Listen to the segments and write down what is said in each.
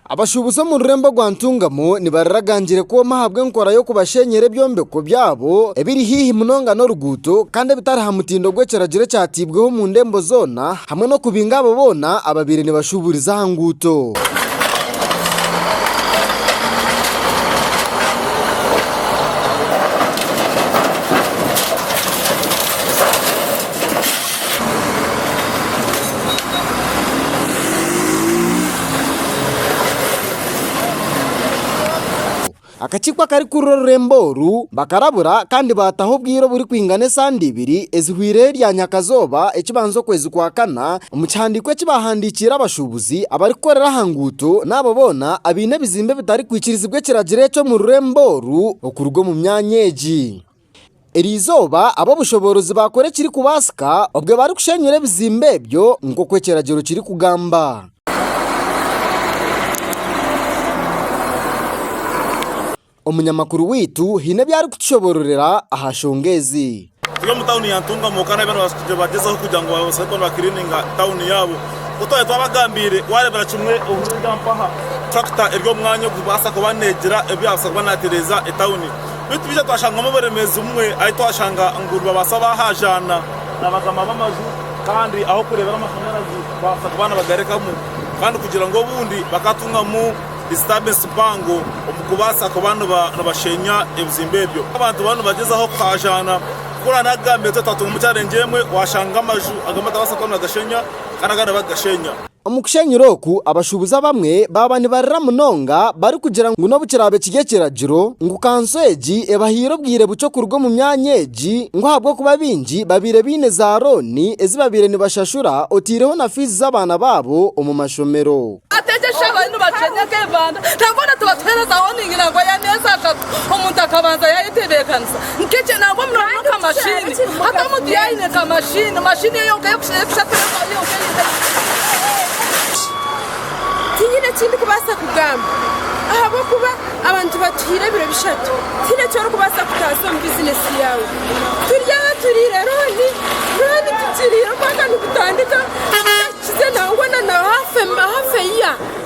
Abashuubuzi omu rurembo rwa Ntungamo nibariragangyire kwoma ahabw'enkora y'okubashenyera ebyombeko byabo ebiri haihi munonga n'oruguuto kandi ebitari aha mutindo gw'ekiragiro ekyateibweho omu ndembo zoona. hamwe n'okubinga abo boona ababaire nibashuuburiza aha nguuto. Akakiiko akarikukurira orurembo oru bakarabura kandi baataho obwire oburikwingana esande ibiri ezihwireho erya nyakazooba ekibanza okwezi kwa kana omu kihandiiko eki baahandiikiire abashuubuzi abarikukorera aha nguuto n'abo boona abaine ebizimbe ebitarikwikirizibwa ekiragiro eki omu rurembo oru okuruga omu myanya egi. Eri izooba ab'obushoboorozi baakora ekirikubaasika obwe barikushenyura ebizimbe ebyo nk'oku ekiragiro kirikugamba. Omunyamakuru waitu haine ebi arikutushobororera aha nshonga ezi. Turi omu tauni ya Ntungamo kandi abaana babaasa kugira bagyezeho kugira ngu babaase kuba nibakiriininga tauni yaabo. Ku twaba twabagambiire, waareebera kimwe obundi mpaha turakita eri omu mwanya ogu kubaasa kuba neegira ebi yaabaasa kuba naatereeza etauni. Beitu twija twashangamu oburemeezi bumwe ahi twashanga ngu nibabaasa baahaajaana na bakama b'amaju kandi ah'okureebera amashanyarazi baabaasa kuba nibagarekamu kandi kugira ngu obundi bakatungamu disturbensi mpango omu kubaasa kuba nibasheenya ebizimbe ebyo. Abantu bariyo nibagyezaho kuhaajaana kukora naagambire ngu twatungamu challenge emwe waashanga amaju agamwe batabaasa kuba nibagashenya kandi agandi bakagashenya. Omu kushenyura oku, abashuubuzi abamwe baaba nibarira munonga barikugira ngu n'obu kiraabe kiri ekiragiro ngu kanso egi ebahaire obwire bukye okuruga omu myanya egi ngu ahabw'okuba baingi babaire baine zaarooni ezi babaire nibashashura otaireho na fiizi z'abaana baabo omu mashomero. Nk'ekyo nangwa muno muno ka mashini. Hati omuntu yaine ka mashini, mashini eyo yonka y'okushakura ensonga yonka ei ntaine. Tinyine eki ndikubaasa kugamba ahabw'okuba abantu batuhaire ebiro bishatu. Tihaine eki orikubaasa kutaasa omu bizinesi yaawe. Turi aha turiire rooni, rooni tukiriire omwaka nigutandika, tutahikize nangwa na haafu eya.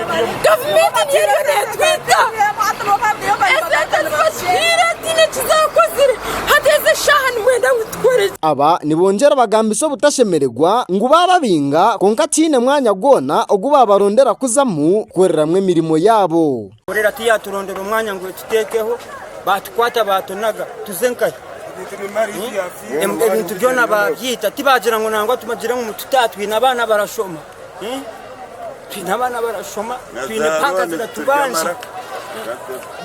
Gavumenti niyo eriyo neetwita. Esente nibazituhaire tihaine eki zaakozire. Hati ezi eshaaha nimwenda ngu tukore ki? Aba nibongyera bagambisa obutashemererwa ngu baababinga kwonka tihaine mwanya gwona ogu baabarondera kuzamu kukoreramu emirimo yaabo. Korera tiyaaturondera omwanya ngu etuteekeho, baatukwata baatunaga tuze nkahi? Ebintu byona baabyita, tibaagira ngu nangwa tubagire ngu mutute aha, twine abaana barashoma. Twine abaana barashoma, twine banka ziratubanja.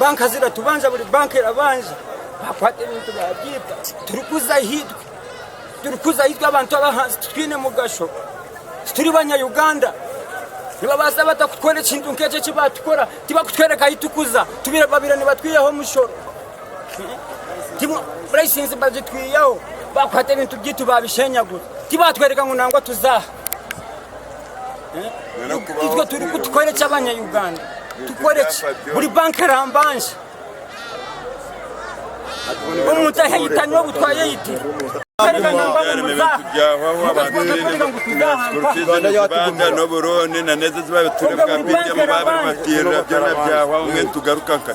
Banka ziratubanja, buri banka erabanja. Bakwata ebintu babyipa. Turikuza ahitwe. Turikuza ahitwe abantu abahansi titwine mugasho. Tituri banyayuganda. Nibabaasa bata kukora ekintu nk'ekyo eki baatukora? Tibakutwereka ahi tukuza. Babaire nibatwihaho omushoro. Layisinsi bagitwihaho. Bakwata ebintu byaitu babishenyagura. Tibatwereka ngu nangwa tuza aha. itwe turi kutukora eki abanyayuganda tukora eki buri banka erambanje omuntu aheyitanywe obu twayeyitira Uganda yatugumira n'oburundi na n'ezi ezibabiturira bwa pdm babiri batirira byona byahwaho mbwenu tugaruka nka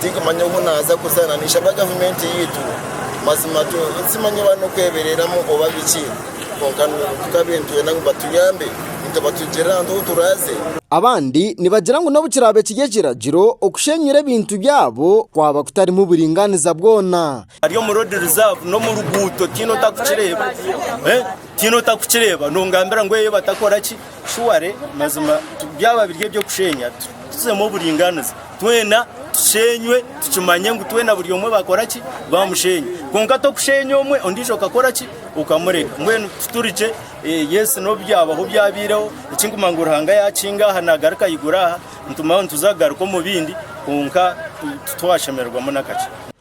Tinkumanya obu naaza kuza na nishaba gavumenti yaitu mazima timanya oba n'okwebereramu oba biki kwonka tukabe nitwenda ngu batuyambe nitubatugirira ahantu ahu turaaze. Abandi nibagira ngu n'obu kiraabe kiri ekiragiro, okushenyura ebintu byabo kwaba kutarimu buringaaniza bwona. Ari omu road reserve n'omu ruguuto tihaine otakukireeba eh, tihaine otakukireeba nongambira ngu eyo batakora ki shuware mazima byaba biri eby'okusheenya tuzemu oburingaaniza twena tusheenywe tukimanye ngu twena buri omwe bakora ki bamusheenya kwonka tokusheenya omwe ondiijo okakora ki okamureka mbwenu tuturikye eh, yesi n'obyabaho byabaireho ekinkuma ngu ruhanga yakinga aha nagaruka aigura aha nitumaho nituza kugaruka omu bindi kwonka titwashemererwamu n'akakye